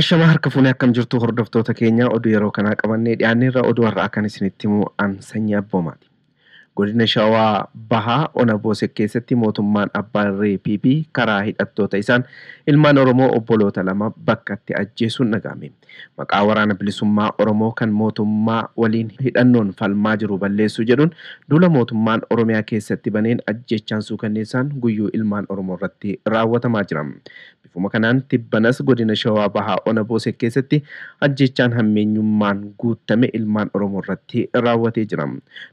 Ashamaa harka fuunee akkam jirtu hordoftoota keenya oduu yeroo kanaa qabannee dhiyaanneerra oduu har'aa kan isinitti himu an sanyii abboomaati. Godina Shawaa Bahaa Ona Boosek keessatti mootummaan abbaa irree PP karaa hidhattoota isaan ilmaan Oromoo obboloota lama bakkatti ajjeesuun dhaga'ame. Maqaa Waraana Bilisummaa Oromoo kan mootummaa waliin hidhannoon falmaa jiru balleessuu jedhuun duula mootummaan Oromiyaa keessatti baneen ajjeechaan suukanneessaan guyyuu ilmaan Oromoo irratti raawwatamaa jira. Bifuma kanaan tibbanas godina Shawaa Bahaa ona Boosee keessatti ajjeechaan hammeenyummaan guuttame ilmaan Oromoo irratti raawwatee jira.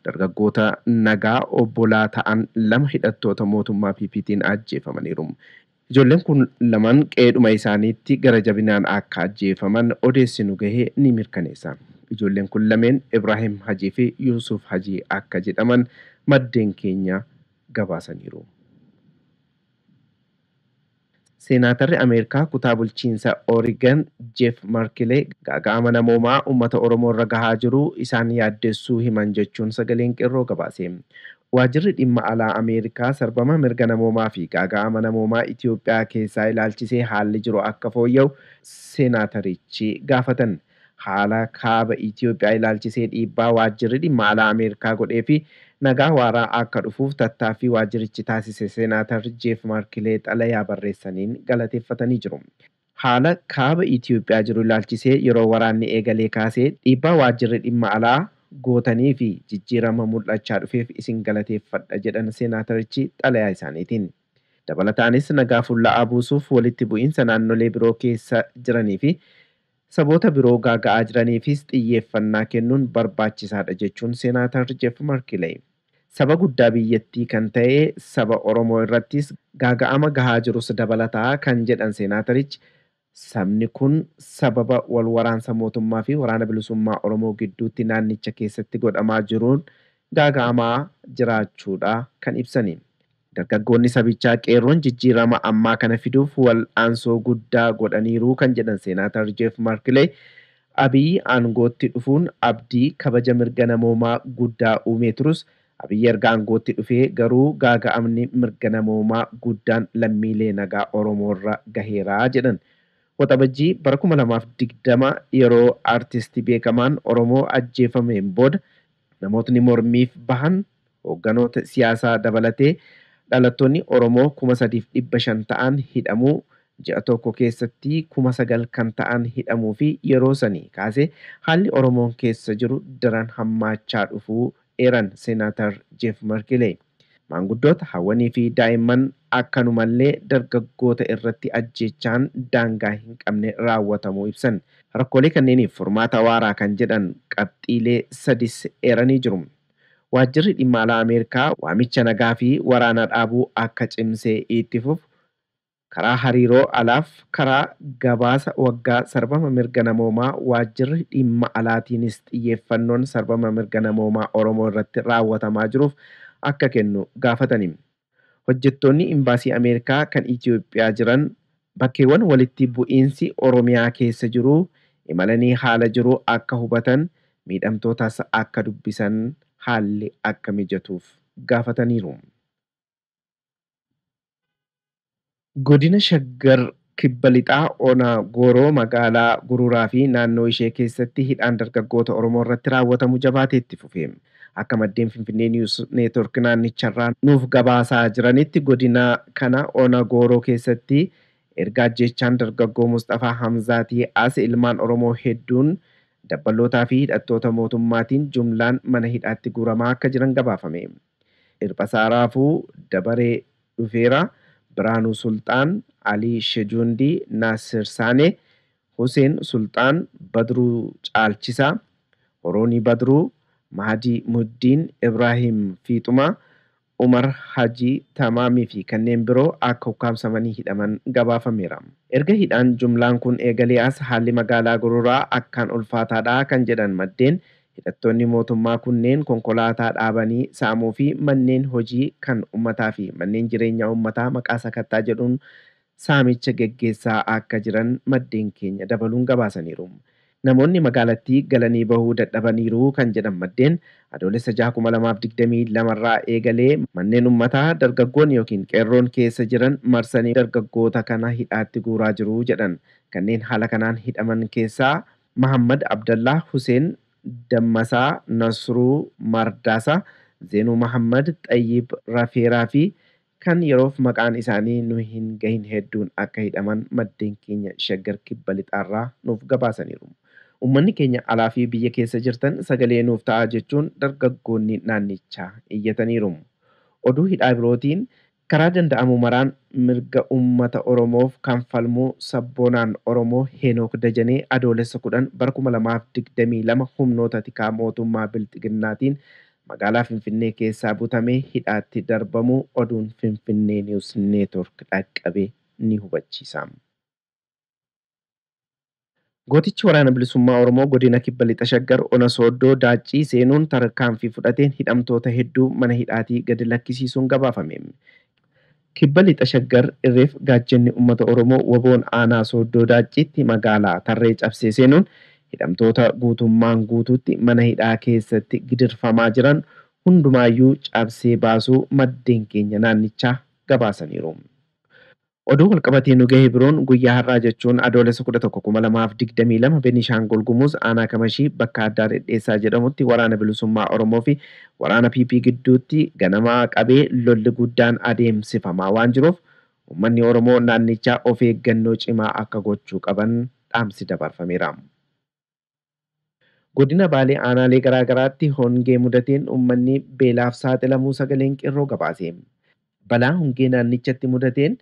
Dargaggoota nagaa obbolaa ta'an lama hidhattoota mootummaa PPtiin ajjeefamaniiru. Ijoolleen kun lamaan qe'eedhuma isaaniitti gara jabinaan akka ajjeefaman odeessi nu gahe ni mirkaneessa. Ijoolleen kun lameen Ibraahim Hajii fi Yuusuuf Hajii akka jedhaman maddeen keenya gabaasaniiru. Seenaatarri Ameerikaa kutaa bulchiinsa Oregon Jeff Merkle gaaga'ama namoomaa uummata Oromoo irra gahaa jiru isaan yaaddessuu himan jechuun Sagaleen Qeerroo gabaase. Waajirri Dhimma Alaa Ameerikaa sarbama mirga namoomaa fi gaaga'ama namoomaa Itiyoophiyaa keessaa ilaalchisee haalli jiru akka fooyya'u seenaatarichi gaafatan. Haala Kaaba Itiyoophiyaa ilaalchisee dhiibbaa waajjirri dhimma alaa Ameerikaa godhee fi nagaa waaraa akka dhufuuf tattaaffii waajjirichi taasise Seenaatar Jeef Markilee xalayaa barreessaniin galateeffatanii jiru. Haala Kaaba Itiyoophiyaa jiru ilaalchisee yeroo waraanni eegalee kaasee dhiibbaa waajjirri dhimma alaa gootanii fi jijjiirama mul'achaa dhufeef isin galateeffadha jedhan Seenaatarichi xalayaa isaaniitiin. Dabalataanis nagaa fulla'aa buusuuf walitti bu'iinsa naannolee biroo keessa jiranii fi Saboota biroo gaaga'aa jiraniifis xiyyeeffannaa kennuun barbaachisaadha jechuun Seenaatar Jeff Markileey. Saba guddaa biyyattii kan ta'e saba Oromoo irrattis gaaga'ama gahaa jirus dabalata kan jedhan Seenaatarichi, sabni kun sababa wal waraansa mootummaa fi Waraana Bilisummaa Oromoo gidduutti naannicha keessatti godhamaa jiruun gaaga'amaa jiraachuudha kan ibsani. Dargaggoonni sabichaa Qeerroon jijjiirama ammaa kana fiduuf wal'aansoo guddaa godhaniiru kan jedhan Seenaatar Jeef Markilee, Abiy aangootti dhufuun abdii kabaja mirga namoomaa guddaa uumee turus, Abiy erga aangootti dhufee garuu gaaga'amni mirga namoomaa guddaan lammiilee nagaa Oromoorra gaheera jedhan. Waxabajjii bara 2020 yeroo artisti beekamaan Oromoo ajjeefameen booda Namootni mormiif bahan hoogganoota siyaasaa dabalatee dhalattoonni Oromoo 3,500 ta'an hidhamuu, ji'a tokko keessatti 9,000 kan ta'an hidhamuu fi yeroo sanii kaasee haalli Oromoon keessa jiru daran hammaachaa dhufuu eeran Seenaatar Jeef Markileey. Maanguddoota, hawwanii fi daa'imman akkanumallee dargaggoota irratti ajjeechaan daangaa hin qabne raawwatamuu ibsan. Rakkoolee kanneeniif furmaata waaraa kan jedhan qabxiilee sadis eeranii jiru. Waajjirri Dhimma Alaa Ameerikaa waamicha nagaa fi waraana dhaabuu akka cimsee itti fufu Karaa hariiroo alaaf karaa gabaasa waggaa sarbama mirga namoomaa waajjirri dhimma alaatiinis xiyyeeffannoon sarbama mirga namoomaa Oromoo irratti raawwatamaa jiruuf akka kennu gaafatani. Hojjettoonni Imbaasii Ameerikaa kan Itiyoophiyaa jiran bakkeewwan walitti bu'iinsi Oromiyaa keessa jiru imalanii haala jiru akka hubatan, miidhamtootas akka dubbisan haalli akka mijatuuf gaafataniiru. Godina Shaggar Kibba Lixaa Ona Gooroo magaalaa Guruuraa fi naannoo ishee keessatti hidhaan dargaggoota Oromoo irratti raawwatamu jabaatee itti fufe. Akka maddeen Finfinnee News Network naannicharraa nuuf gabaasaa jiranitti godina kana ona Gooroo keessatti erga ajjeechaan dargaggoo Musxafaa Hamzaatii as ilmaan Oromoo hedduun dabballootaa fi hidhattoota mootummaatiin jumlaan mana hidhaatti guuramaa akka jiran gabaafame. Dhirphasaa Raafuu dabaree dhufeera Biraanuu Sulxaan, Alii Shejuundii, Naassir Saanee, Huseen Sulxaan, Badruu Caalchisaa, Horoonii Badruu, Mahadii Muhiddiin, Ibraahiim Fiixumaa, Umar Hajii Tamaamii fi kanneen biroo akka ukkaamsamanii hidhaman gabaafameera. Erga hidhaan jumlaan kun eegalee as haalli magaalaa Gororaa akkaan ulfaataadha kan jedhan maddeen, Hidhattoonni mootummaa kunneen konkolaataa dhaabanii saamuu fi manneen hojii kan ummataa fi manneen jireenyaa ummataa maqaa sakattaa jedhuun saamicha geggeessaa akka jiran maddeen keenya dabaluun gabaasaniiru. Namoonni magaalattii galanii bahuu dadhabaniiru kan jedhan maddeen, Adoolessa 6,2022 irraa eegalee manneen ummataa dargaggoonni ykn qeerroon keessa jiran marsanii dargaggoota kana hidhaatti guuraa jiru jedhan. Kanneen haala kanaan hidhaman keessaa Mahaammad Abdallaah Huseen, Dammasaa Nasruu Mardaasaa, Zeenuu Mahaammad, Xayyib Rafeeraa fi kan yeroof maqaan isaanii nu hin gahin hedduun akka hidhaman maddeen keenya Shaggar Kibba Lixaarraa nuuf gabaasaniiru. Uummanni keenya alaa fi biyya keessa jirtan sagalee nuuf ta'aa jechuun dargaggoonni naannichaa iyyataniiru. Oduu hidhaa birootiin Karaa danda'amu maraan mirga uummata Oromoof kan falmu sabboonaan Oromoo Heenook Dajanee Adoolessa 10 bara 2022 humnoota tikaa mootummaa Bilxiginnaatiin magaalaa Finfinnee keessaa butamee hidhaatti darbamuu oduun Finfinnee News Network dhaqqabe ni hubachiisa. Gootichi Waraana Bilisummaa Oromoo Godina Kibba Lixa Shaggar Ona Sooddoo Daaccii seenuun tarkaanfii fudhateen hidhamtoota hedduu mana hidhaatii gadi lakkisiisuun gabaafame. Kibba Lixa Shaggar irreef gaachenni ummata Oromoo wbo'n Aanaa Sooddoo Daacciitti magaalaa Tarree cabsee seenuun hidhamtoota guutummaan guutuutti mana hidhaa keessatti gidirfamaa jiran hundumaayyuu cabsee baasuu maddeen keenya naannichaa gabaasaniiru. Oduu walqabatee nu gahe biroon guyyaa har'aa jechuun Adoolessa 11, 2022 Beniishaangul Gumuz aanaa Kamashii bakka addaa Dhedheessaa jedhamutti Waraana Bilisummaa Oromoo fi Waraana PP gidduutti ganamaa qabee lolli guddaan adeemsifamaa waan jiruuf uummanni Oromoo naannichaa of eeggannoo cimaa akka gochuu qaban dhaamsi dabarfameera. Godina Baalee aanaalee garaa garaatti hongee mudateen uummanni beelaaf saaxilamuu Sagaleen Qeerroo gabaase. Balaa hongee naannichatti mudateen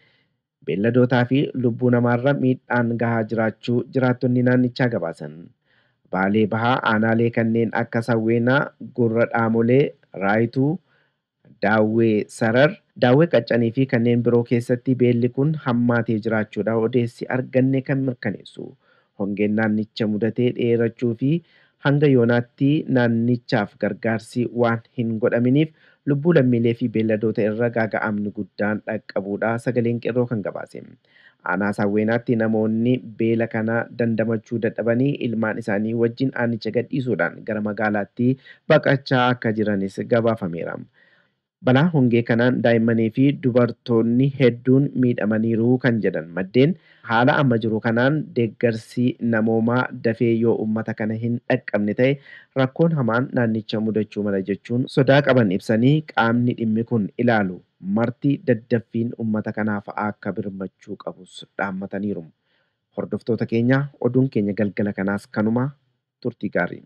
beelladootaa fi lubbuu namaarra miidhaan gahaa jiraachuu jiraattonni naannichaa gabaasan. Baalee Bahaa aanaalee kanneen akka Sawweenaa, Gurra Dhaamolee, Raayituu, Daawwee Sarar, Daawwee Qaccan fi kanneen biroo keessatti beelli kun hammaatee jiraachuudha odeessi arganne kan mirkaneessu. Hongeen naannicha mudate dheerachuu fi hanga yoonaatti naannichaaf gargaarsi waan hin godhaminiif lubbuu lammiilee fi beelladoota irra gaaga'amni guddaan dhaqqabuudha Sagaleen Qeerroo kan gabaase. Aanaa Sawweenaatti namoonni beela kana dandamachuu dadhabanii ilmaan isaanii wajjin aanicha gadhiisuudhaan gara magaalaatti baqachaa akka jiranis gabaafameera. Balaa hongee kanaan daa'immanii fi dubartoonni hedduun miidhamaniiru kan jedhan maddeen, haala amma jiru kanaan deeggarsi namoomaa dafee yoo uummata kana hin dhaqqabne ta'e rakkoon hamaan naannicha mudachuu mala jechuun sodaa qaban ibsanii qaamni dhimmi kun ilaalu Marti daddaffiin ummata kanaaf akka birmachuu qabus dhaammataniiru. Hordoftoota keenya oduun keenya galgala kanaas kanuma, turtii gaarii.